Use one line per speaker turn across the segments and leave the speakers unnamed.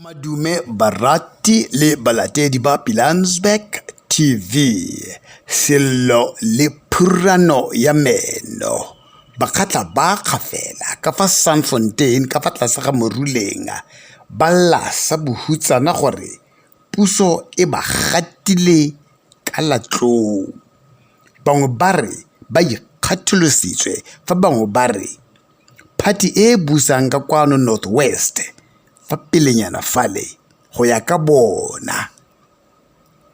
Madume barati le balatedi ba Pilansberg TV, Sello le Phurano ya Meno, Bakgatla ba Kgafela ka fa Sandfontein ka fa tlase ga Moruleng ba lla sa bohutsana gore puso e ba gatile ka latlou. Bangwe ba re ba ikgatholositswe fa bangwe ba re. Phathi e e busang ka kwano North West fa pelenyana fale go ya ka bona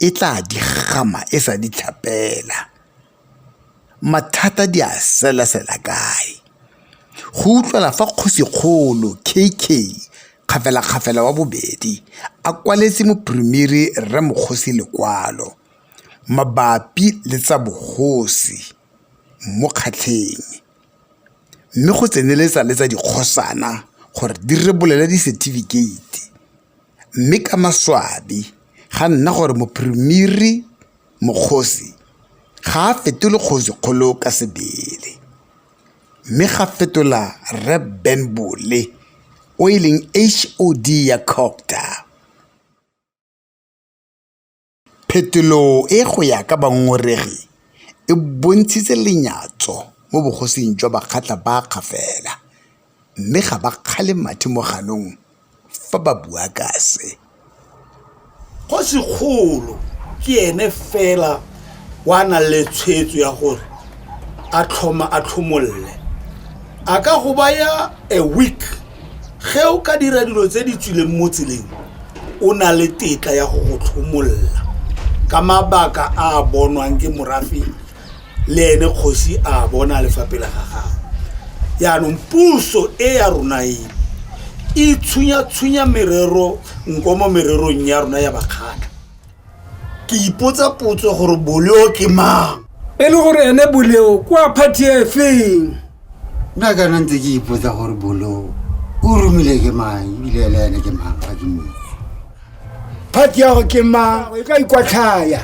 e tla di gama e sa di tlhapela. Mathata di a selasela kae? Go utlwala fa Kgosikgolo KK Kgafelakgafela wa bobedi a kwaletse Mophiremere Rre Mokgosi lekwalo mabapi le tsa bogosi mo kgatlheng mme go tseneletsa le tsa dikgosana gore di rebolele disetifikeiti mme ka maswabi ga nna gore Mophiremiri Mokgosi ga a fetole kgosi kgolo ka sebele mme ga fetola Rre Ben Bole o e leng HOD ya Cogta. Phetolo e go ya ka bangongoregi e bontshitse lenyatso mo bogosing jwa Bakgatla ba Kgafela mme ga ba kgale mathe mo ganong fa ba bua ka se. Kgosikgolo
ke ene fela o a nang le tshwetso ya gore a tlhoma a tlhomolle a ka go baya a week. ge o ka dira dilo tse di tswileng mo tseleng o na le tetla ya go go tlhomolola ka mabaka a a bonwang ke morafe le ene kgosi a bona lefapela ga gago yaanong puso e ya rona e e tshunya-tshunya merero nko mo mererong ya rona ya bakgatlha ke ipotsa potso gore boleo ke mang e le gore ene
boleo kwa party e feng nna
kana ntse ke ipotsa gore boleo o romile ke mang ebile ele ene ke mang ga ke mong
party yago ke mang e ka ikwatlhaya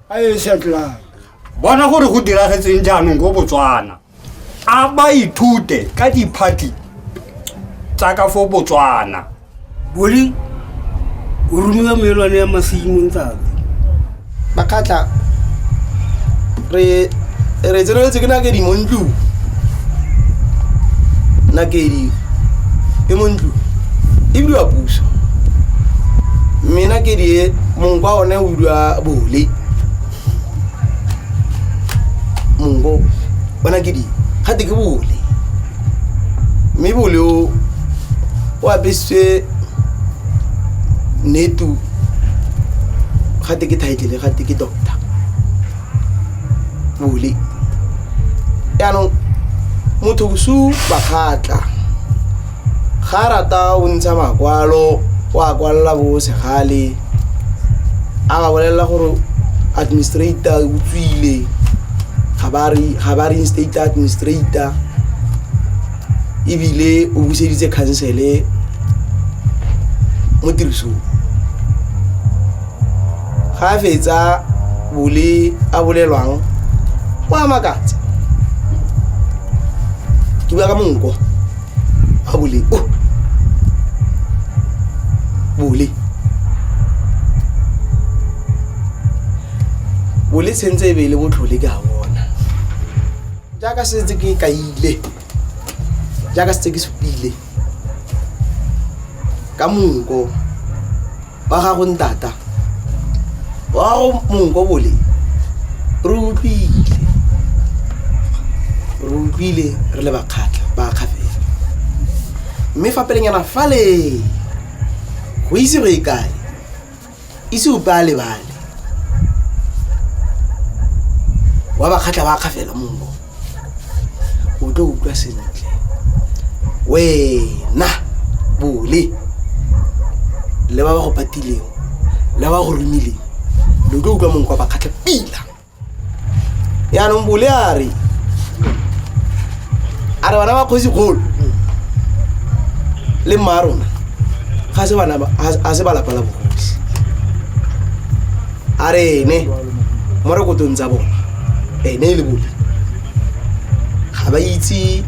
a e setlang bona gore
go diragetseng jaanong ko botswana a ba ithute ka diphathi tsa ka fo botswana boli
o romiwa meelwane ya masimong tsatsi bakgatla
re re tseneletse ke nakedi mo ntlong nakedi e mo ntlong e bidiwa puso mme nakedi e mongwe kwa one o bidiwa bole mongo bona ke di ga te ke bole mme bole o o apesitswe netu ga te ke title ga te ke doctor bole yaanong motho bosu bakgatla ga a rata o ntsha makwalo o a kwalela bo segale a ba bolelela gore administrator o tswile ga ba re ga ba reinstate administrator ebile o buseditse khansele mo tirisong ga a fetsa bole a bolelwang o a makatsa ke bua ka monko ga bole o bole bole tshwentse e be e le botlhole ke a bona jaaka setse ke kaile jaaka setse ke supile ka monko ba gago ntata wa gago monko bole re utlwile re utlwile re le bakgatlha ba kgafela mme fa pelenyana fale go ise go e kae ise upe a lebale wa bakgatlha ba kgafela monko o tlo utlwa sentle wena bole le ba ba go patileng le ba go romileng lo tlo utlwa mongwe kwa bakgatlha pila yaanong bole a re a re bana ba kgosi kgolo le mma rona ga se balapa la bogosi a re ene mo rekotong tsa bona ene e le bone ga ba itse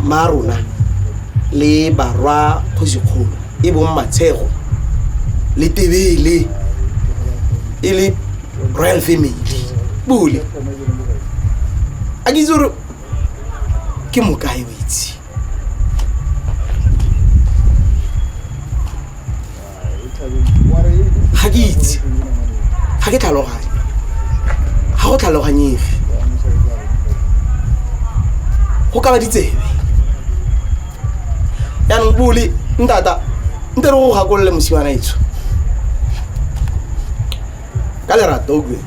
ma rona le barwa kgosikgolo e bong matshego le tebele e le royal family bole a ke itse gore ke mokae o itse ga ke itse ga ke tlhaloganye ga go tlhaloganyege go ka ba ditsebe yaanong bole ntata nte re go gakolole mosimana etsho ka lerato o kue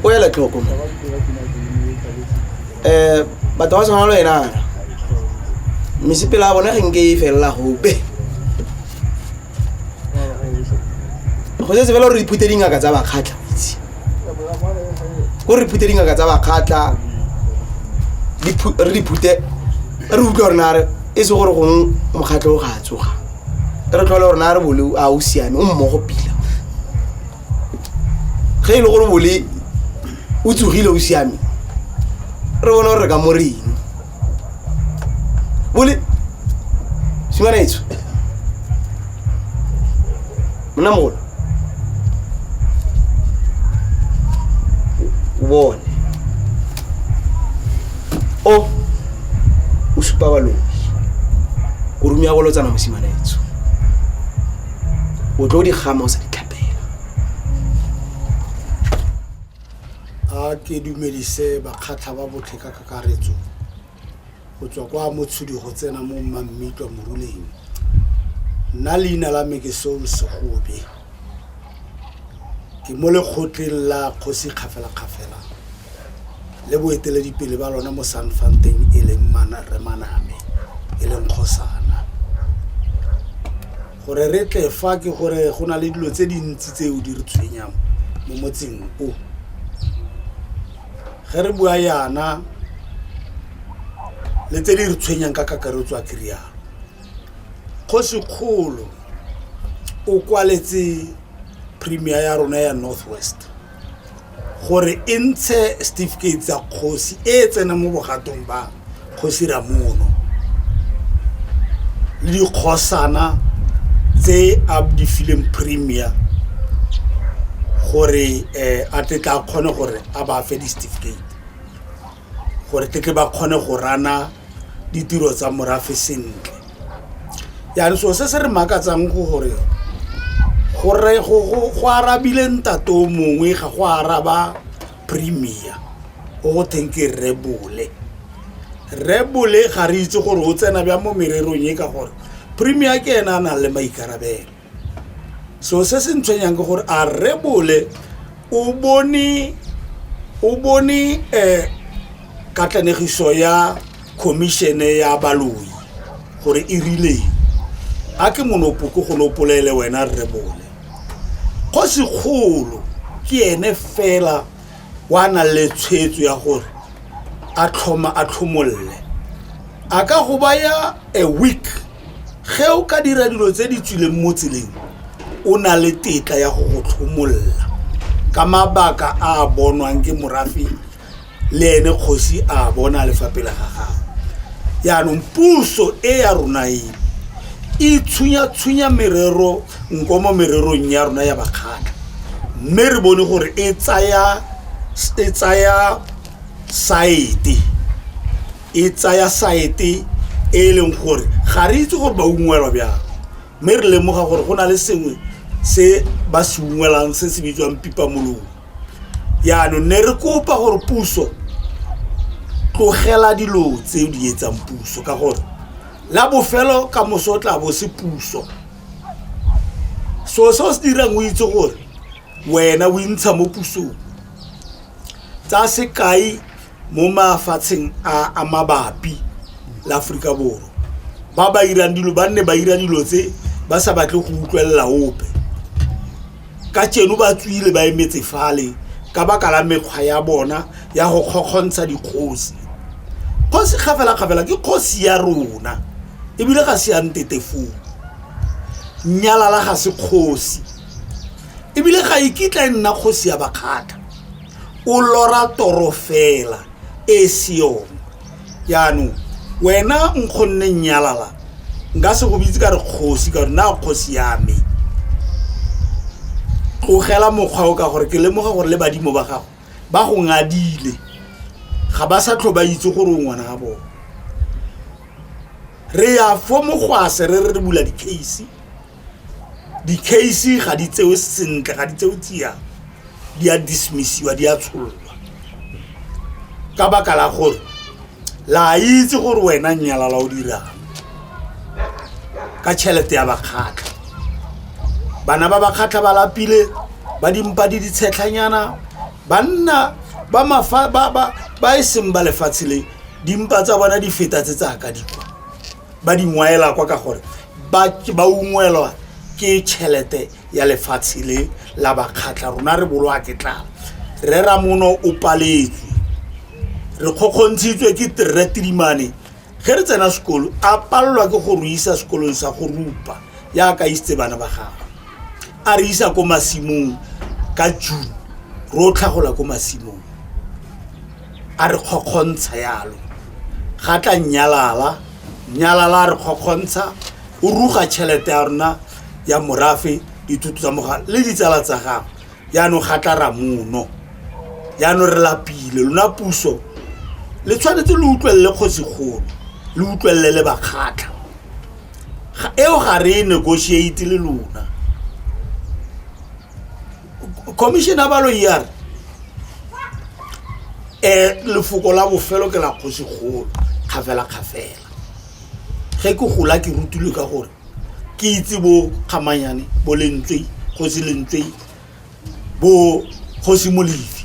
o ele tlhoko mo um batho ba tshwana le wenana mesepela ya bona ge nke e felela gope go setse fela gore diphute dingaka tsa bakgatlha itse ko re phute dingaka tsa bakgatlha re diphute re utlwa gore nare e se gore gongwe mokgatlho o ga a tsoga re tlhole gore na re bole a o siame o mmogo pila ge e le gore bole o tsogile o siame re bone gore re ka mo reng bole simanetso monna mogolo o bone o o supa balobi o rumea go lotsana mosimanetso o tlo di gama o sa di
a ke dumelise bakgatlha ba botlhe ka kakaretso go tswa kwa motshudi go tsena mo mmammitwa moruleng nna leina la me ke seo segobe ke mo lekgotleng la kgosi kgafelakgafela le boeteledipele ba lona mo sanfanteng e leng remaname e leng kgosana Gore re tle fa ke gore go na le dilo tse dintsi tseo di re tshwenyang mo motseng o. Ge re bua yana le tse di re tshwenyang ka kakaretso a kerialo kgosikgolo o kwaletse premier ya rona ya north west gore e ntshe setifikeiti tsa kgosi e e tsenang mo bogatong ba kgosi ramono le dikgosana tse a di fileng premier gore um a tle tla kgone gore a ba fe di-certificate gore tle tle ba kgone go rana ditiro tsa morafe sentle yang so se se re makatsang go gore gore go arabile ntato mongwe ga go araba premier o go theng ke rebole rebole ga re itse gore o tsena bja mo mererong e ka gore premier ke ena a nang le maikarabelo so se se ntshwenyang ke gore a rebole o bone o bone um katlanegiso ya khomišene ya baloi gore e rileng a ke monopo ko go nopolele wena rebole kgosikgolo ke ene fela wa na le tshwetso ya gore a tlhoma a tlhomolle a ka go baya a week ge o ka dira dilo tse di tswileng mo tseleng o na le tetla ya go go tlhomolola ka mabaka a a bonwang ke morafe le ene kgosi a bona lefapela ga gago yaanong puso e ya rona e e tshunya-tshunya merero nko mo mererong ya rona ya bakgatlha mme re bone gore e tsaya e tsaya saete e tsaya saete e e leng gore ga re itse gore ba ungwelwa bjang mme re lemoga gore go na le sengwe se ba se ungwelang se se bitswang pipa molong yaanong ne re kopa gore puso tlogela dilo tse di etsang puso ka gore la bofelo ka moso o tla bo se puso so seo se dirang o itse gore wena o intsha mo pusong tsa sekai mo mafatsheng a mabapi la Aforika Borwa ba ba irang dilo ba nne ba ira dilo tse ba sa batle go utlwelela ope ka tseno ba tswile ba emetse fale ka baka la mekgwa ya bona ya go kgokgontsha dikgosi kgosi kgafela-kgafela ke kgosi ya rona ebile ga se ya ntetefong nyalala ga se kgosi ebile ga e kitla e nna kgosi ya bakgatlha o lora toro fela e se yone jaanong wena nkgonne nnyalala nka se go bitse ka re kgosi ka gore na kgosi ya me tlogela mokgwa o ka gore ke lemoga gore le badimo ba gago ba go ngadile ga ba sa tlho ba itse gore o ngwana ga bone re ya fo mogwase re re re bula di-case di-case ga di tsewe sentle ga di tsewe tsia di a dismissiwa di a tsholwa ka baka la gore la itse gore wena nyala la o dirang ka tšhelete ya bakgatlha bana ba bakgatlha ba lapile ba dimpa di ditshetlhanyana banna ba mafa ba ba ba e seng ba lefatshe le dimpa tsa bona di feta tse tsa ka dikwa ba di ngwaela kwa ka gore ba ba ungwelwa ke tšhelete ya lefatshe le la bakgatlha rona re bolwa ke tlala re ramono o paletswe re kgokgontshitswe ke terre tilimane ge re tsena sekolo a palelwa ke go re isa sekolong sa go rupa ya ka isitse bana ba gagwe a re isa ko masimong ka june ro tlhagola ko masimong a re kgokgontsha yalo ga tla nyalala nyalala a re kgokgontsha o ruga tšhelete ya rona ya morafe dithuto tsa moga le ditsala tsa gago yaanong ga tla ra mono yaanong re lapile lona puso le tshwanetse le utlwelele kgosigolo le utlwelele le bakgatlha eo ga re e negotiate le lona commissioner balo er um lefoko la bofelo ke la kgosi kgolo kgafela kgafela ge ke gola ke rutile ka gore ke itse bo kgamanyane bo lentswe kgosi lentswe bo kgosi molefi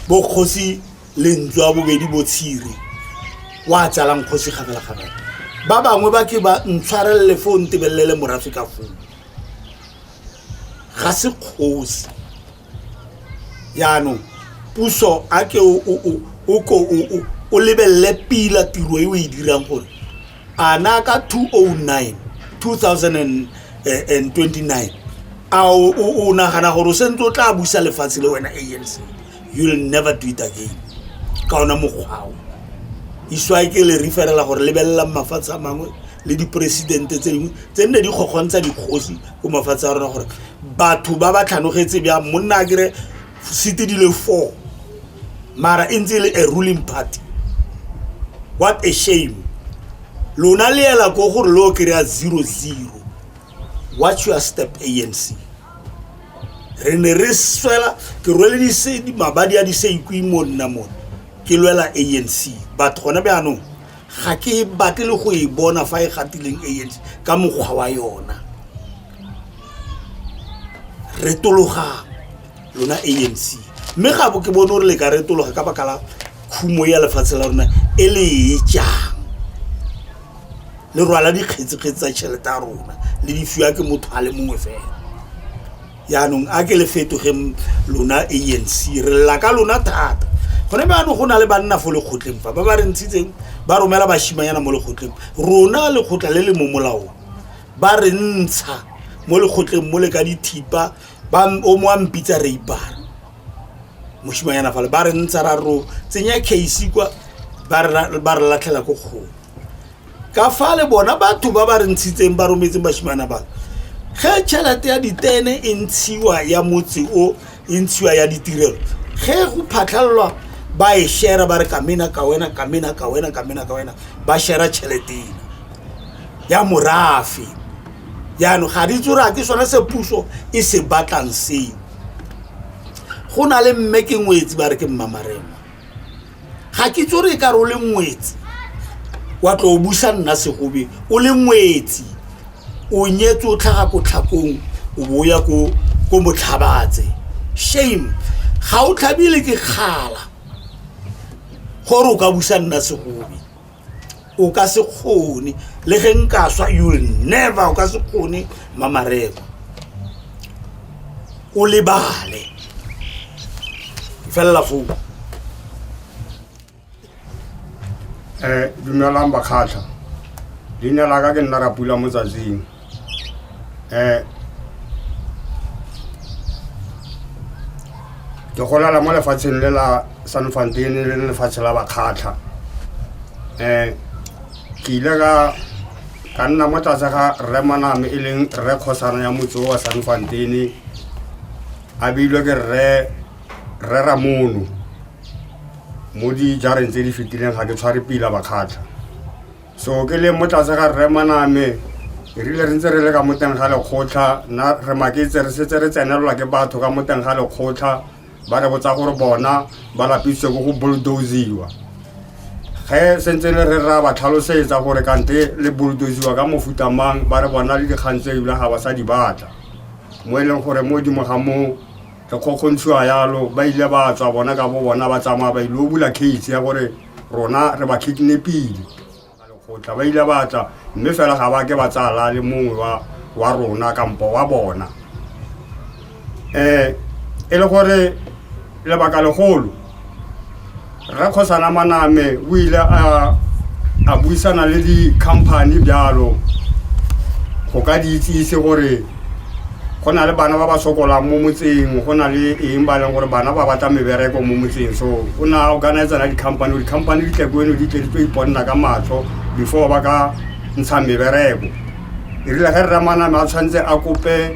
bo kgosi lentswe a bobedi bo tshire wa tsalang kgosi kgafela kgafela ba bangwe ba ke ba ntshwarelele fo ntebelele morafe ka foo ga se kgosi yaanong puso a ke o ko o lebelele pila tiro e o e dirang gore a na ka 209 2029 eh, a o nagana gore o sentse o tla busa lefatshe le wena anc you will never do it again ka ona mokgwao iswae ke le referela gore lebelelang mafatshe a mangwe le diporesidente tse dingwe tse nne di kgokgontsha dikgosi ko mafatshe a rona gore batho ba ba tlhanogetse bjang monna a kere sete dile four mara e ntse e le a ruling party what a shame lona le ela ko gore le o kry-a zero zero watch your step anc re ne re swela ke rwele disedi mabadi a diseikwi mo nna mone ke lwela anc batho gone bjaanong ga ke e batle le go e bona fa e gatileng anc ka mokgwa wa yona retologa lona anc mme ga bo ke bone gore le ka retologa ka baka la khumo ya lefatshe la rona e le e jang le rwala dikgetsekgetse tsa tšhelete ya rona le di fiwa ke motho a le mongwe fela yaanong a ke le fetogeng lona anc re lela ka lona thata gone baanong go na le banna fo lekgotleng fa ba ba re ntshitseng ba romela bashimanyana mo lekgotleng rona lekgotla le le mo molaong ba re ntsha mo lekgotleng mo le ka dithipa o mo a mpitsa reipara moshimanyana fale ba re ntsha ra ro tsenya case kwa ba re latlhela ko kgolo ka fa le bona batho ba ba re ntshitseng ba rometseng bashimana bano ge tšhelete ya ditene e ntshiwa ya motse o e ntshiwa ya ditirelo ge go phatlhalelwa ba e shera ba re kamena ka wena kamena ka wena kamena ka wena ba shera tšheletena ya morafe jaanong ga di tsora ke sone se puso e se batlang seo go na le mme ke ngwetsi ba re ke mmamarema ga ke itse re ka re o le ngwetsi wa tlo o busa nna segobe o le ngwetsi o nyetse o tlhaga ko tlhakong o bo o ya ko ko motlhabatse shame ga o tlhabile ke kgala gore o ka busa nna segobe o ka se kgone le ge nka swa you will never o ka se kgone mamareko o lebale felela foo um
dumelang bakgatlha leina la ka ke nna rapula mo tsatsing um ke golala mo lefatsheng le la san fantene le lefatshe la bakgatlha um ke ile ka ka nna mo tlase ga rre maname e leng rre kgosana ya motse wa san fantene a beilwe ke rre rre ramono mo dijareng tse di fetileng ga ke tshware pila bakgatlha so ke leng mo tlase ga rre maname re rile re ntse re le ka mo teng ga lekgotlha nna re maketse re setse re tsenelelwa ke batho ka mo teng ga lekgotlha ba re botsa gore bona ba lapisitse ko go bulldosiwa ge sentse le re ra ba tlhalosetsa gore kante le bulldosiwa ka mofuta mang ba re bona le dikgang tse ebile ga ba sa di batla mo e leng gore mo dimo ga moo re kgokgontshiwa yalo ba ile ba tswa bona ka bo bona ba tsamaya ba ile o bula case ya gore rona re ba kidnapile lekgotla ba ile ba tla mme fela ga ba ke ba tsala le mongwe wa wa rona kampo wa bona um e le gore lebaka legolo rre kgosana maname o ile a a buisana le di-company bjalo go ka di itsise gore go na le bana ba ba sokolang mo motseng go na le eng ba e leng gore bana ba batla mebereko mo motseng so o ne a organizera di-company di-company di tle ko eno di tle di tlo iponna ka matlho before ba ka ntsha mebereko e rile ge rramaname a tshwanetse a kope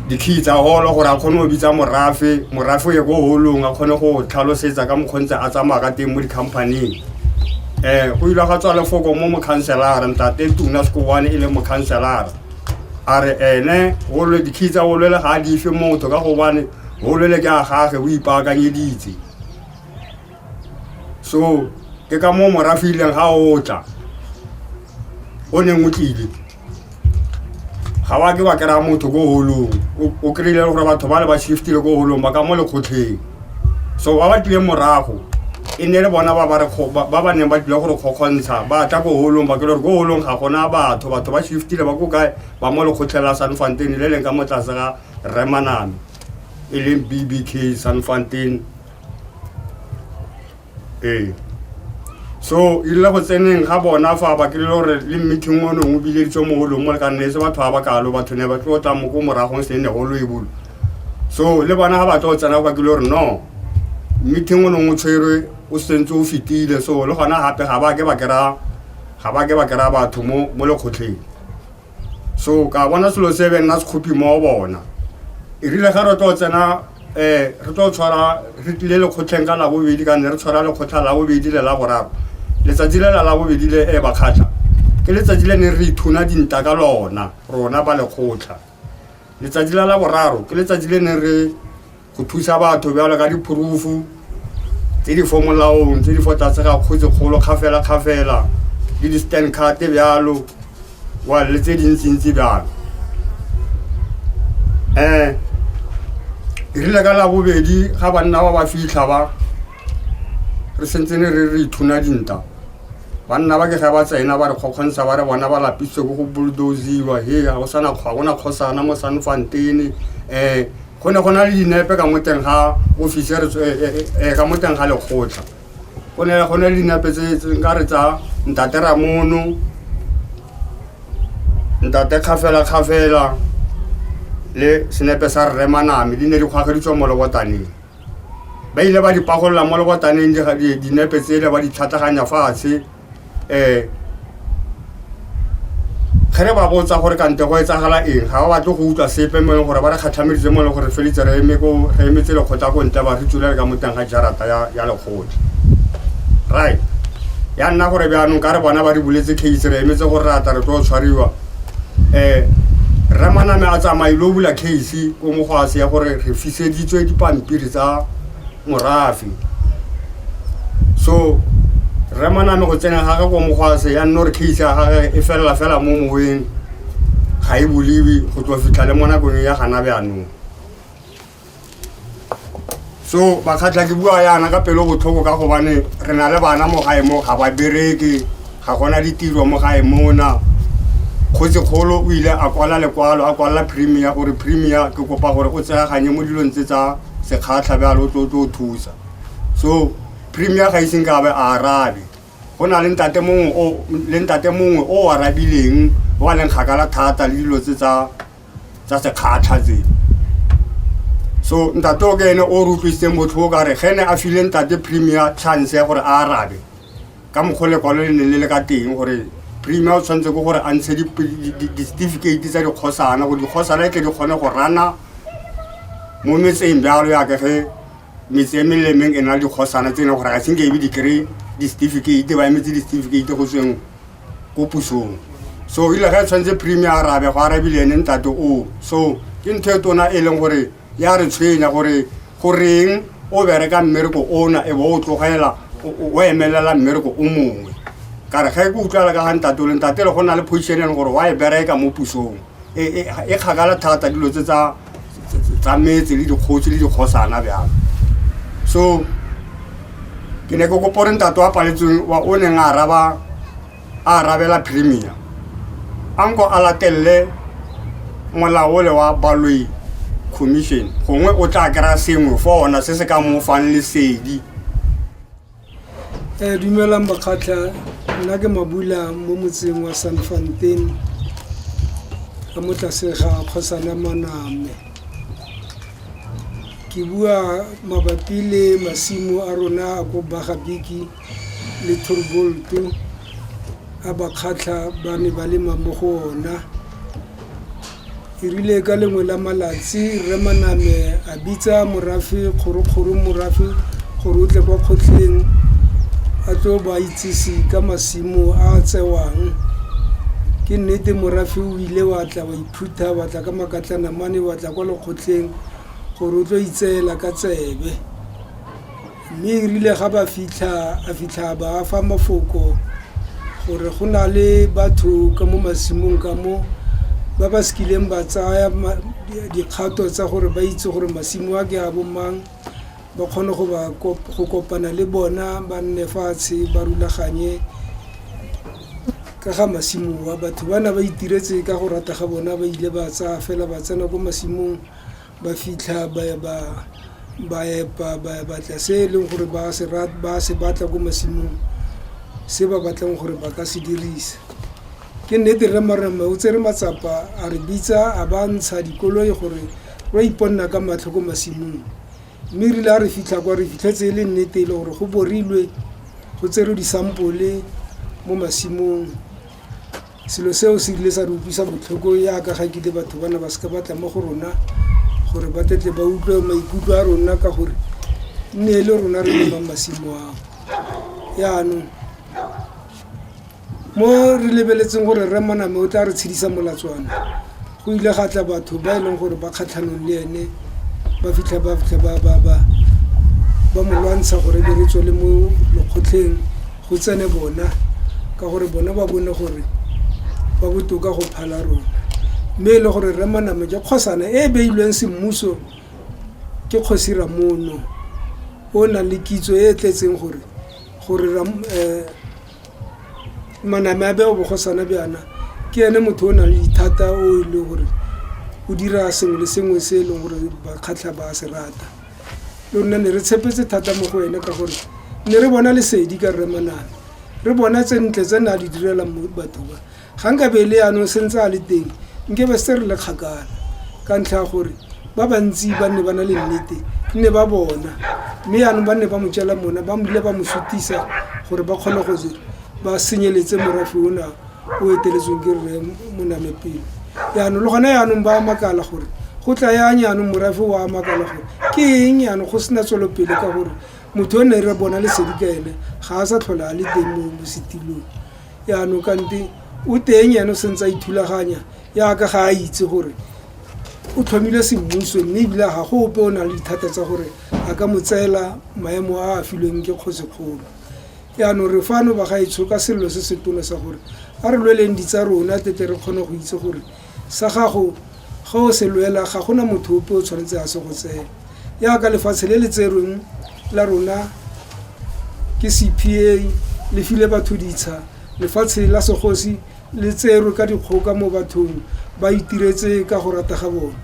dikey tsa holo gore a kgone go bitsa morafe morafe o ye ko holong a kgone go tlhalosetsa ka mokgontse a tsamaya ka teng mo di-companyng um go ile ga tswa lefoko mo mokhanselara ntate tuna sekowane e le mokhanselara a re ene golo dikhi tsa golwele ga a dife motho ka gobane golwele ke a gage o ipaakanyeditse so ke ka mo morafileng ga o tla o neng o tlile ga wa ke wa kry-a motho ko holong O- o kry-ile gore batho ba le ba shiftile ko holong ba ka mo lekgotlheng so ba ba tlileng morago e ne le bona ba ba re kgo- ba ba ba neng ba tlile gore kgokgontsha ba tla ko holong ba kry gore ko holong ga gona batho batho ba shiftile ba ko kae ba mo lekgotlheng la san fontain le leng ka mo tlase ga remaname e leng bbk san fontain ee so e rile go tseneng ga bona fa ba kry gore le meeting o nongwe bileditse mo golong mo le ka nne e se batho ba ba kalo batho ne ba tlo tla mo ko moragong se ne golo e bolo so le bona ga ba tlo tsena ba kile gore no meeting o nongwe tshwerwe o sentse o fetile so le gona gape ga ba ke ba kry-a ga ba ke ba kry-a batho mo mo lekgotlheng so ka bona selo se be nna sekgopi mo bona e rile ga re tlo tsena um re tlo tshwara re tlile lekgotlheng ka labobedi ka nne re tshwara lekgotlha labobedi le la boraro letsatsi le la labobedi le e bakgatlha ke letsatsi le ne re ithuna dinta ka lona rona ba lekgotlha letsatsi la la boraro ke letsatsi le ne re go thusa batho bjalo ka diphorufu tse di fo molaong tse di fo tlase ga kgotse kgolo kgafela-kgafela le di-stand carte bjalo wa le tse dintsintsi bjalo um e rile ka labobedi ga banna ba ba fitlha ba re sentse ne re re ithuna dinta banna ba ke ge ba tsena ba re kgokgontsha ba re bona ba lapisitse ko go bulldoziwa he ga go sana kgwa gona kgosana mo sanfantene um go ne go na le dinepe ka mo teng ga ofisere e, e, e, e, ka mo teng ga lekgotlha go ne go ne le dinepe tse nka re tsa ntate ramono ntate kgafela kgafela le senepe sa rre maname di ne di kgwageditswa mo lebotaneng ba ile ba di pagolola mo lebotaneng dinepe tsele ba di tlhatlaganya fatshe um ge re ba botsa gore kante go etsagala eng ga ba batle go utlwa sepe mo e leng gore ba re kgatlhameditse mo e leng gore felitse re emetse lekgotla ko ntle ba re tsula le ka mo teng ga jarata ya lekgotla right ya nna gore bjaanong ka re bona ba re buletse case re emetse gore re ata re tlo tshwariwa um rre maname a tsamaile o bula case ko mogwase ya gore re fiseditswe dipampiri tsa morafe so re maname go tsena ga gagwe ko mogwase ya nno re case ya gage e felela fela mo moweng ga e boliwe go tswa fitlha le mo nakong ya gana bjanong so bakgatlha ke bua yana ka pelo botlhoko ka gobane re na le bana mo gae mo ga ba bereke Ga go na ditiro mo gae mona. Kgotsikgolo o ile a kwala lekwalo a kwalela Premier gore Premier ke kopa gore o tseyaganye mo dilong tse tsa sekgatlha bjalo o tlo tlo thusa. So Premier ga iseng ka be a arabe. Go na le ntate mongwe o le ntate mongwe o arabileng wa leng kgakala thata le dilo tse tsa tsa sekgatlha tse. So ntate o ke ene o re utlwisitseng botlhoko ka re ge ne a file ntate Premier chance ya gore a arabe. ka mokgwa lekwalo le ne le le ka teng gore premier o tshwanetse ke gore a ntshe di-certificate tsa dikgosana gore dikgosana e tle di kgone go rana mo metseng bjalo yaka ge metse e melemeng e na le dikgosana tse e leng gore ga senke ebe di-kry di-certificate ba emetse di-certificate go tsweng ko pusong so ile ge e tshwanetse premier arabe go arabile ene ntate o so ke ntho e tona e leng gore ya re tshwenya gore goreng o bereka mmereko ona e bo o tlogela o emelela mmereko o mongwe ka re ga e ke utlwala ka ga ntate le ntate le go na le position e leng gore wa e bereka mo pusong e, e, e kgakala thata dilo tse tsa tsa metse le dikgotsi le dikgosana bjalo so ke ne ke kopore ntate wa paletsweng wa o neng a araba a arabela premier a nko a latelele molaole wa baloi commission gongwe o tla kry-a sengwe fa ona se se ka mo fang lesedi
um dumelang bakgatlha nna ke mabula mo motseng wa san fantain ka mo tlase ga kgosana maname ke bua mabapi le masimo a rona a ko bagabiki le thorbolto a bakgatlha ba ne ba lema mo go ona e rile ka lengwe la malatsi re maname a bitsa morafe kgorokgoro morafe gore o tle kwa kgotlheng a tlo ba itsise ka masimo a a tsewang ke nnete morafe o ile wa tla wa iphutha wa tla ka makatlanamane wa tla kwa lekgotleng gore o tlo itseela ka tsebe Mme e rile ga ba fitlha a fitlha ba fa mafoko gore go na le batho ka mo masimong ka mo ba ba sekileng ba tsaya dikgato tsa gore ba itse gore masimo a ke a bo mang ba kgone go ba go kopana le bona ba nne fatshe ba rulaganye ka ga masimo wa batho ba na ba itiretse ka go rata ga bona ba ile ba tsaya fela ba tsena ko masimong ba fitlha ba epa ba batla se e leng gore ba se batla ko masimong se ba batlang gore ba ka se dirisa. Ke nnete rre Marema o tsere matsapa a re bitsa a ba ntsha dikoloi gore wa iponna ka matlho ko masimong mme rile a re fitlha kwa re fitlhetse e le nnete e le gore go borilwe go tserwe disampole mo masimong Selo seo se ile sa re utlwisa botlhoko yaka ga kile batho ba ne ba seka batla mo go rona gore ba tetle ba utlwe maikutlo a rona ka gore nne e le rona re lebang masimo ao yaanong mo re lebeletseng gore rre moname o tla re tshedisa molatswana go ile ga tla batho ba e leng gore ba kgatlhanong le ene ba fitlha ba fitlha ba ba ba ba mo lwantsha gore be re tswele mo mokgotlheng go tsene bona ka gore bona ba bone gore ba botoka go phala rona mme e le gore re maname ke kgosana e e beilweng semmuso ke kgosi ramono o nang le kitso e e tletseng gore gore maname a be o bogosana bjana ke ene motho o nang le dithata o e le gore o dira sengwe le sengwe se e leng gore bakgatlha ba se rata le rona ne re tshepetse thata mo go ene ka gore ne re bona lesedi ka rre maname re bona tse ntle tse ne a di direla batho ba Ga nkabe e le yanong sentse a le teng, nkebe setse re le kgakala ka ntlha ya gore ba bantsi ba nne ba na le nnete e nne ba bona, mme yanong ba nne ba mo tšela mona ba bile ba mo sutisa gore ba kgone go ba senyeletse morafe ona o eteletsweng ke rre Moname pele. Yanong le gone yanong ba makala gore go tla yang yanong morafe o a makala gore ke eng yanong go sena tswelopele ka gore motho o ne re bona lesedi ka ene ga a sa tlhola a le teng mo setilong. yaanong kante o teng ene o sentse a ithulaganya yaka ga a itse gore o tlhomile semmuso mme ebile ga go ope o na le dithata tsa gore a ka mo tseela maemo a a filweng ke kgotsekgolo yaanong re fano ba gaetsho ka selelo se se tona sa gore a re lweleng ditsa rona tete re kgone go itse gore Sa gago, ga o se lwela, ga go na motho ope o tshwanetseng a se go tseye. Jaaka lefatshe le le tserweng la rona ke CPA le file batho ditsha, lefatshe la segosi le tserwe ka dikgoka mo bathong ba itiretse ka go rata ga bone.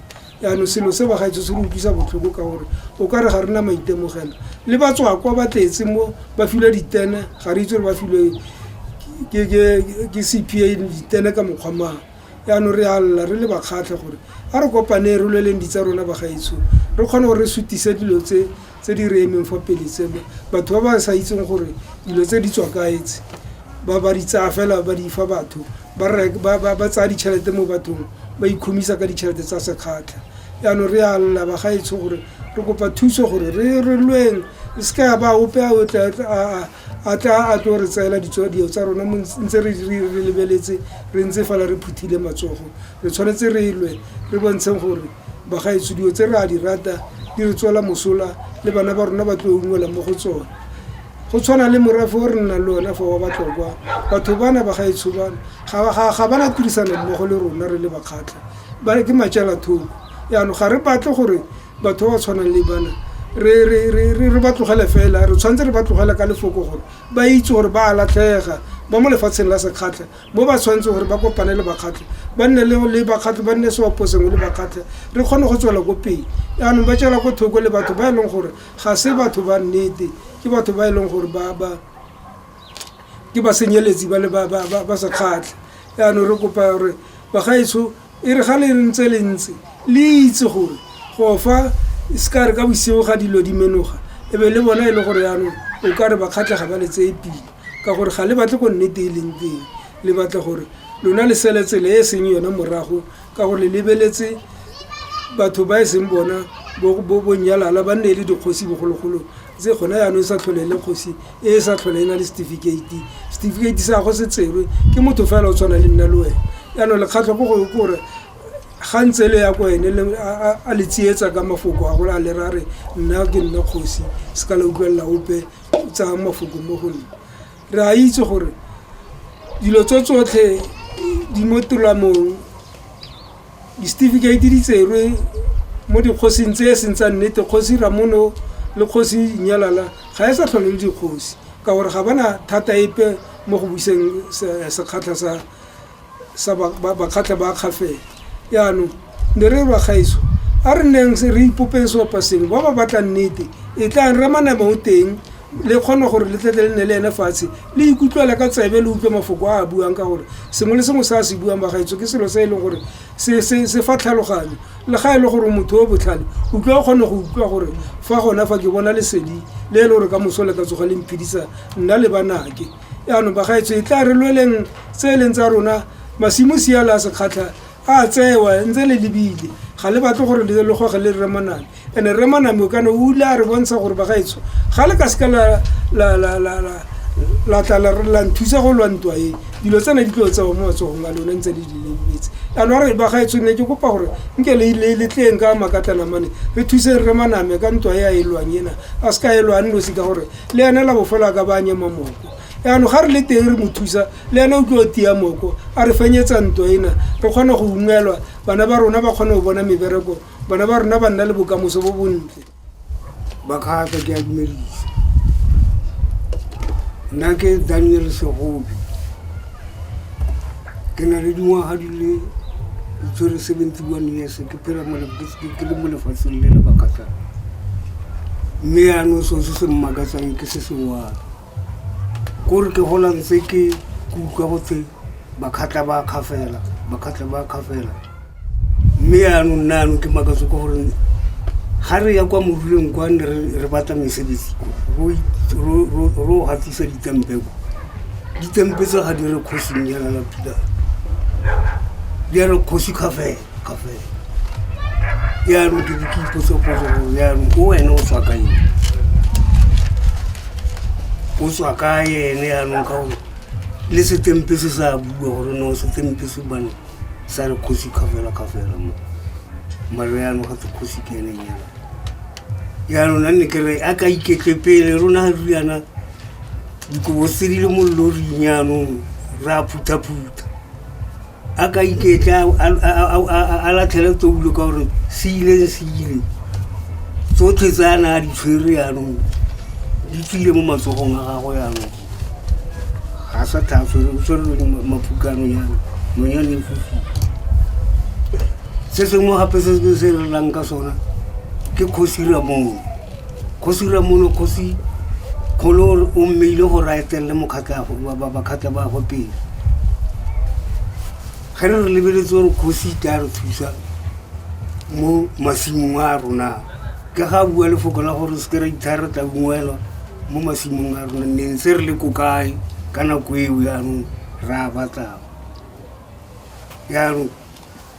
Jaanong selo se bagaetsho se re utlwisa botlhoko ka gore o ka re ga re na maitemogelo. Le batswakwa ba tletse mo ba filwe ditene, ga re itse gore ba filwe ke CPA ditene ka mokgwa mang. yaanong re alela re le bakgatlhe gore a re kopaneng re lweleng di tsa rona bagaetsho re kgone gore re sutise dilo tse tse di re emeng fa pele tse batho ba ba sa itseng gore dilo tse di tswa kaetse ba ba di tsaya fela ba di fa batho ba tsaya ditšhelete mo bathong ba ikhomisa ka ditšhelete tsa sekgatlha yaanong re alela bagaetsho gore re kopa thuso gore re re lweng e se ka ya ba ope a o tla a a tla a tlo re tseela dilo tsa rona ntse re lebeletse re ntse fela re phuthile matsogo re tshwanetse re lwe re bontsheng gore bagaetso dilo tse re a di rata di re tswela mosola le bana ba rona ba tlo ungwela mo go tsone go tshwana le morafo o re nnang le one fa wa batlokwa batho bana bagaetsho bana ga ba na tirisano mmogo le rona re le bakgatlha ba ke matsela thoko yaanong ga re batle gore batho ba ba tshwanang le bana re ba tlogele fela re tshwanetse re ba tlogela ka lefoko gore ba itse gore ba a latlhega ba mo lefatsheng la sekgatlha mo ba tshwanetseng gore ba kopane le bakgatlha ba nne le bakgatlha ba nne seopo sengwe le bakgatlha re kgone go tswela ko pele jaanong ba tswela ko thoko le batho ba e leng gore ga se batho ba nnete ke batho ba e leng gore ba ba ke ba senyeletsi ba le ba sekgatlha jaanong re kopa gore bagaetsho E re ga le ntse le ntse le itse gore go fa e se ka re ka bosigo ga dilo di menoga e be le bona e le gore yanong o ka re ba kgatlhega ba le tseye pila ka gore ga le batle go nnete e leng teng le batla gore lona le sele tsela e e seng yone morago ka gore le lebeletse batho ba e seng bona bo nyalala ba nne e le dikgosi bogologolong tse gone yaanong e sa tlhole e le kgosi e e sa tlhole e na le setifikeiti setifikeiti sa go se tserwe ke motho fela o tshwana le nna le wena yaanong lekgatlho ko go kore ga ntse le ya ko ene a le tsietsa ka mafoko a gore a le ra re nna ke nna kgosi se ka la utlwelela ope tsaya mafoko mo go nna re a itse gore dilo tso tsotlhe di mo tolamong Disetifikeiti di tserwe mo dikgosing tse e seng tsa nnete, Kgosi Ramono le Kgosi Inyalala ga e sa tlhole le dikgosi ka gore ga bana thata epe mo go buseng sekgatlha sa sa bakgatlha ba kgafela. Jaanong ne re ba gaetsho a re neng re ipopeng seopa sengwe ba ba batlang nnete e tlang Ramanaba o teng. le kgona gore le tlete le nne le ene fatshe le ikutlwela ka tsebe le utlwe mafoko a a buang ka gore sengwe le sengwe se a se buang bagaetso ke selo se e leng gore se fa tlhaloganyo le ga e le gore motho o botlhale utlwa o kgone go utlwa gore fa gona fa ke bona lesedi le e le gore ka moso le ka tsoga le mphidisa nna le banake yaanong bagaetso e tla re lweleng tse e leng tsa rona masimo siala a sekgatlha a tsewa ntse le lebile ga le batle gore le goge le remoname and-e remoname o kana o ile a re bontsha gore bagaetsho ga le ka seka la tla la nthusa go lwantwa e dilo tsena di tlo tsewa mo matsogong a lone ntse le di lebetse ano a re bagaetsho ne ke kopa gore nke le tleng ka makatlanamane re thuse re remoname ka ntwa e a e lwang ena a seka e lwang nosi ka gore le ene la bofelo a ka ba a nyema moko yaanong ga re le teng re mo thusa le ene o tlo tia moko a re fenyetsa ntwa ena re kgone go ungwelwa bana ba rona ba kgone go bona mebereko bana ba rona ba nna le bokamoso bo bontle ba
kgatlha ke a dumedisa nna ke daniel segobi ke na le dingwaga di le ditshwere seventy one years ke phela ke le mo lefatsheng le le bakatlana mme yaanong so se se mmakatsang ke se sengwana kore ke gola ntse ke kutlwa gothe bakgatlha ba kgafela bakgatlha ba kgafela mme yaanong nna yanong ke makatso ka gore ga re ya kwa moruleng kwa ne re batla mesebetsi ro gatisa ditempeko ditempetsa ga di re kgosing yana la pila di a re kgosi kgafela ka fela yaanong ke ne ke ipotsopotso gore yaanong ko wene o tswa ka ene o tswa ka ene yaanong ka gore le setempe se sa bua gore no setempe se bane sa re kgosi ka fela ka fela mo maro yaanong gate kgosi ke ene nyana yaanong a nne kere a ka iketle pele rona ga riana dikobo tse di le mo loring yaanong re a phuthaphutha a ka iketla a latlhele tsoulo ka gore se ile le se ile tsotlhe tse a na a di tshwere yanong di tswile mo matsogong a gago yanong ga sa tlhatswere o tshwerele mapukano yanong monyane e fofile se sengwe gape se se relang ka sona ke kgosira moo kgosi ramono kgosi kgolo o mmeile gore a eteng le mokgatlabakgatlha ba go pele ge re re lebeletse gore kgosi ta re thusa mo masimong a rona ke ga bua lefoko la gore se ke ra itshare re tla ungwelwa mo masimong a rona ne ntse re le ko kae ka nako eo yanong ra batlago yanong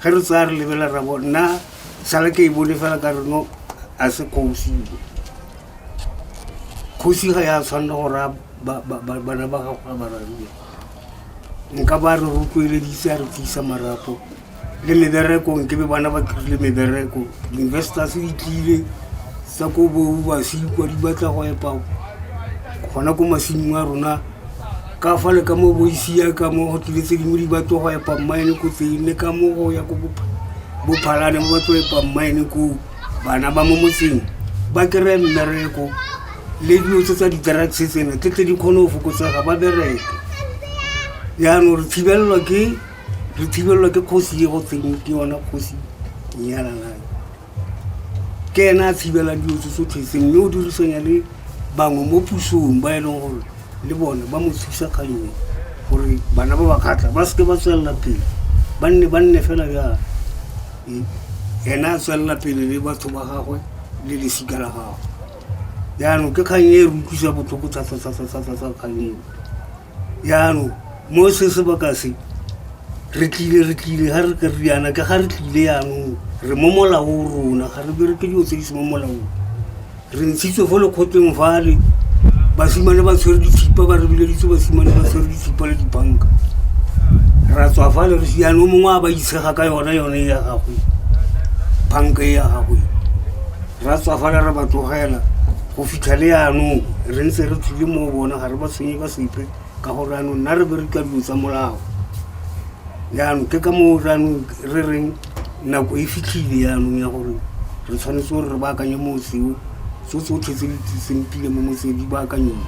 ge re tsaya re lebela rabo nna sala ke e bone fela ka reno a se kgosi kgosi ga ya tshwanela go raya bana ba gago a bararue nka ba re rotloeleditse a re tlisa marapo le meberekong ke be bana ba kry-ile mebereko di-investors di tlile tsa ko boubasi kwa di batla go epa gona ko masimong a rona ka fa le ka mo boisia ka mo go tlile tse dingwe di ba tlo go epa mmaene ko tseng le ka mo go ya ko bophalane mo ba tlo epa mmaene ko bana ba mo motseng ba kry-e mmereko le dilo tse tsa di-drugs tsena tle tle di kgone go fokotsega ba bereke jaanong re thibelelwa ke re thibelelwa ke kgosi e go tseng ke yona kgosi nyalalae ke ena a tshibelang dilo tse tsotlhe tse mme o dirisanya le bangwe mo pusong ba e leng gore le bone ba mo thusa ka yone gore bana ba ba katla ba seke ba tswelela pele ba nne ba nne fela jalo ena a tswelela pele le batho ba gagwe le lesika la gagwe jaanong ke kgang e re utlwisa botlhoko thata-thata-thata-thata kgang eo yaanong mo se sebaka se re tlile re tlile ga re ka re yana ka ga re tlile yanong re mo molaong rona ga re bereke dilo tse di se mo molaong re ntshitswe fo lekgoteng fale basimane ba tshwere dithipa ba re bileditse basimane ba tshwere dithipa le dibanka ra tswa fale re siane o mongwe a ba itshega ka yone yone e ya gagwe banka e ya gagwe Ra tswa fale re ba tlogela go fitlha le yanong re ntse re tlile mo bona ga re ba tshwenye ka sepe ka gore yanong nna re bereka dilo tsa molao yanong ke ka moo yanong re reng nako e fitlhile yanong ya gore re tshwanetse gore re baakanye motseo tso tsotlhe tse di tliseng tlile mo motseng di baakanyeng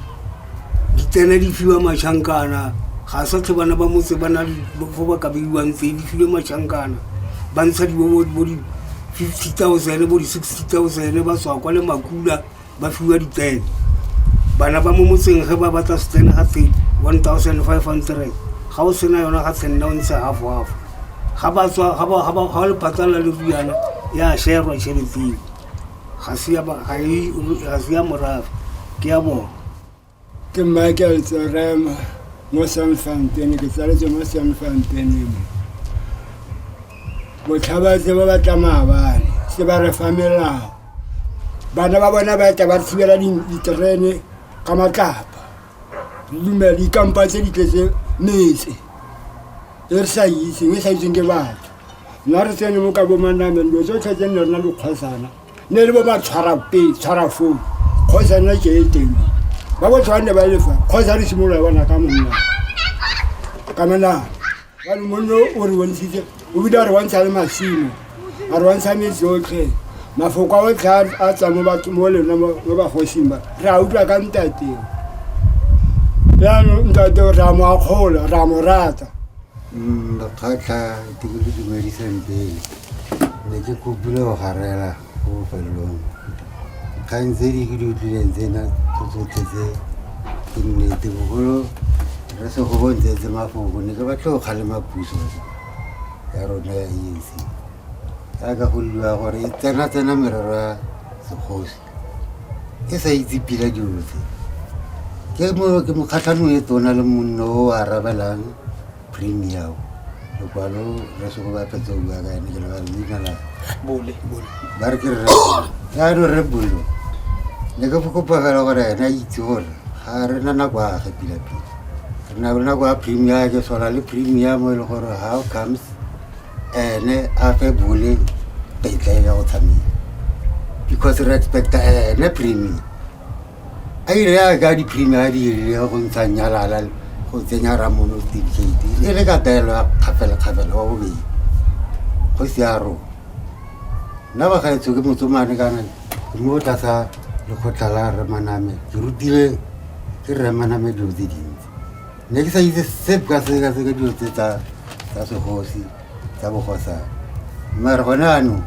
di tsena di fiwa mašhankana ga sa tlhe bana ba motse ba na le fo ba ka beiwang tse di filwe mašhankana ba ntsha di bo di fifty thousand bo di sixty thousand ba tswa kwa le makula ba fiwa ditsene bana ba mo motseng ge ba batla setsene ga tse one thousand five hundred ga o sena yona ga tshenna o ntshe half half ga ba tswa ga le patala le riana ya sherwa tšhelete eo ga se ya morafe ke ya bona ke
michael tsorema mo san fantene ke tsaletse mo san fantene mo botlhabatse ba batla maabane se ba re fa melao bana ba bona ba tla ba thibela diterene ka matlapa lumela dikampa tse di tletse metse e re sa itseng e sa itseng ke batho nna re tsene mo ka bomanameng dilo tse tlhetse nne rena dikgosana ne le bo ba tshwara pele tshwara foo kgosana ke e teng ba bo tshwane ba lefa kgosa re simolola bona ka monna ka menana Jalo monno o re bontshitse o bile a re bontsha le masimo a re bontsha metse otlhe mafoko a otlhe a tsa mo batho mo lena mo bagosing ba re a utlwa ka ntate jaanong ntate re a mo akgola re a mo rata mm,
bakgatlha ke le dumedisang pele ne ke kopile go garela ko bofelelong kgang tse di ke di utlwileng tsena tsotlhe tse ke nnete bogolo re se go bontse tse mafoko ne ke batlo go kgalema puso ya rona ya anc jaaka go liwa gore e tsena tsena merero ya segosi e sa itse pila dilo tse ke mokgatlhanong e tona le monno o arabelang Premier. Lokwalo re se go ba phetse o bua ka ene ke lebale leina la bole bole ba re ke re ya no re bolo ne ke fokopa fela gore ene a itse gore ga re na nako a ge pila pila re na le nako ya premier ke tshwana le premier mo e leng gore how comes ene a fe bole tetla ya go tshameka because re expecta ene premier a e re ya ka di-premier a dirile go ntsha nyalala go tsenya ramono tifikate e le ka taelo ya kgafelekgafele wa bobedi go se ya rona nna ba gaetsho ke motsomane kana ke mo tlasa lekgotla la remaname ke rutile ke remaname dilo tse dintsi ne ke sa itse sep ka seka seka dilo tse tsa segosi tsa bogosana mmare gone anong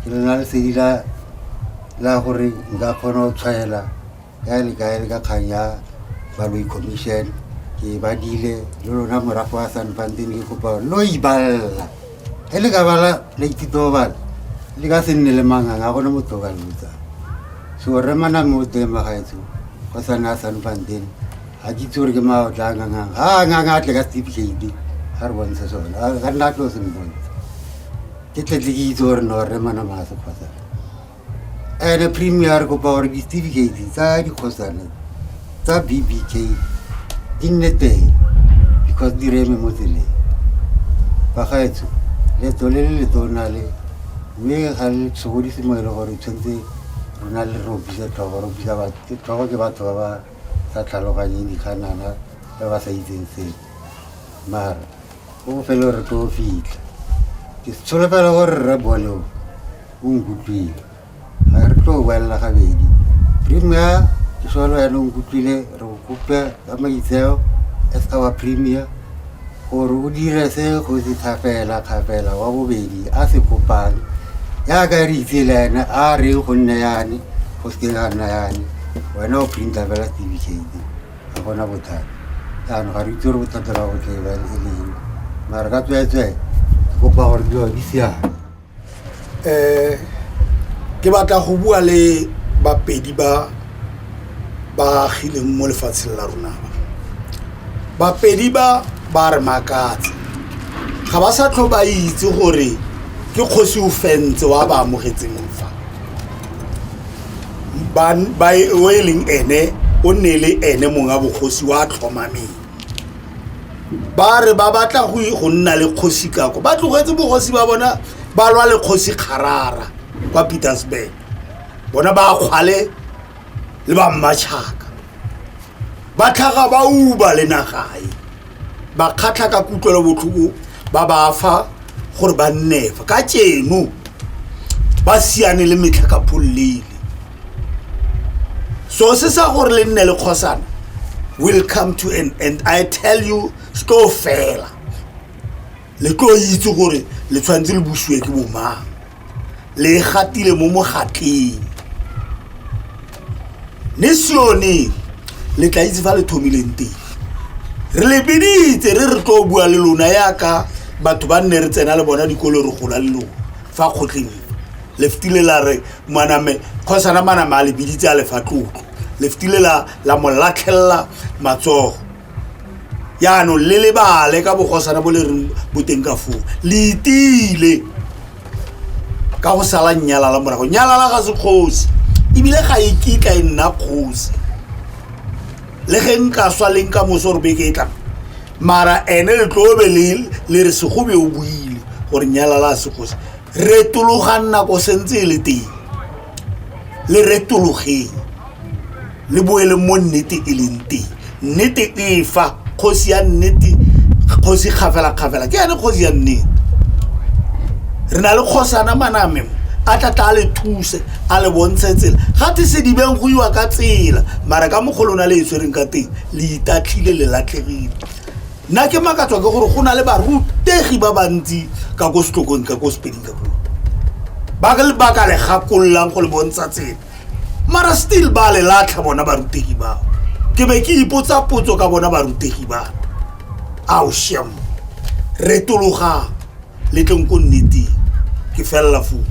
ke le na le sedi la gore nka kgona go tshwaela kae le kae le ka kgang ya baloi commission ke ba dile le lona morago wa sanfanteng le kopa lo ibalela ge le ka bala la ithuto bala le ka se nne le mangang a gone motho ka lotsa so re maname o teng magaetso go sana sanfanteng ga ke itse gore ke mao tla ngangang ga a ngang a tle ka steve shady ga re bontshe sone ga re nna tlo se mbontshe ke tletle ke itse gore no re mana maase kgotsa ene premier re kopa gore di-steve shady tsa dikgosane tsa bbk di nne teng because di reme mo tseleng bagaetsho leto le le letona le mme ga le sokodise mo e le gore tshwanetse rona le robisa tlhogo robisa tlhogo ke batho ba ba sa tlhaloganyeng dikganana ba ba sa itseng sepe mara o bofelo re tlo fitlha ke tsholofela gore rre bone o o nkutlwile ga re tlo boelela gabedi premier ke sone wena o nkutlwile re go kopya ka maitseo as our premier gore o dire se kgosi thapela thapela wa bobedi a se kopang jaaka re itse le ene a re go nne yane go seke ga nna yane wena o printa fela certificate ga gona bothata jaanong ga re itse gore bothata la go tle e leng mare ka tsweetswee ke kopa gore dilo di siame um
ke batla go bua le bapedi ba ba agileng mo lefatsheng la rona ba bapedi ba ba re makatsa ga ba sa tlho ba itse gore ke kgosi o fentse wa ba amogetseng fa o e leng ene o nne le ene mongwe wa bogosi wa tlhomameng ba re ba batla go e, go nna le kgosi kako ba tlogetse bogosi ba bona ba lwa le kgosi kgarara kwa petersburg bona ba kgwale le ba mmatšhaka ba tlhaga ba uba le nagae ba kgatlha ka kutlwelo botlhoko ba ba fa gore ba nnefa ka tšeno ba siane le metlha ka phollele so se sa gore le nne le kgosana will come to an end i tell you se tlo fela le tlo itse gore le tshwanetse le busiwe ke bomang le gatile mo mogatleng ne sione le tla itse fa le thomileng teng re le biditse re re tlo bua le lona yaka batho ba nne re tsena le bona dikolo re gola le lona fa kgotleng le fetile la re maname kgosana maname a lebiditse a lefa tlotlo lefitile la la mo latlhelela matsogo yaanong le lebale ka bogosana bo le re boteng ka foo le itile ka go sala nyalala morago nyalala ga se kgosi ebile ga e kitla e nna kgosi le ge nka swa leng ka moso re beke e tlang mara ene le tlobe le re segobe o buile gore nyalala a se kgosi retologang nako sentse e le teng le retologeng le boele mo nnete e leng teng nnete e fa kgosi ya nnete kgosi kgafelakgafela ke yane kgosi ya nnete re na le kgosana maname a tla tla le thuse a le bontshe tsela ga te sedibeng go iwa ka tsela mara ka mogolo o na le e tshwereng ka teng le itatlhile le latlhegile nna ke makatswa ke gore go na le barutegi ba bantsi ka ko setlokong ka ko sepeding ka puo ba ka lebaka le gakololang go le bontsha tsela mara still ba le latlha bona barutegi bao ke be ke ipotsa potso ka bona barutegi ba ao sham retologang le tleng ko nneteng ke felela foo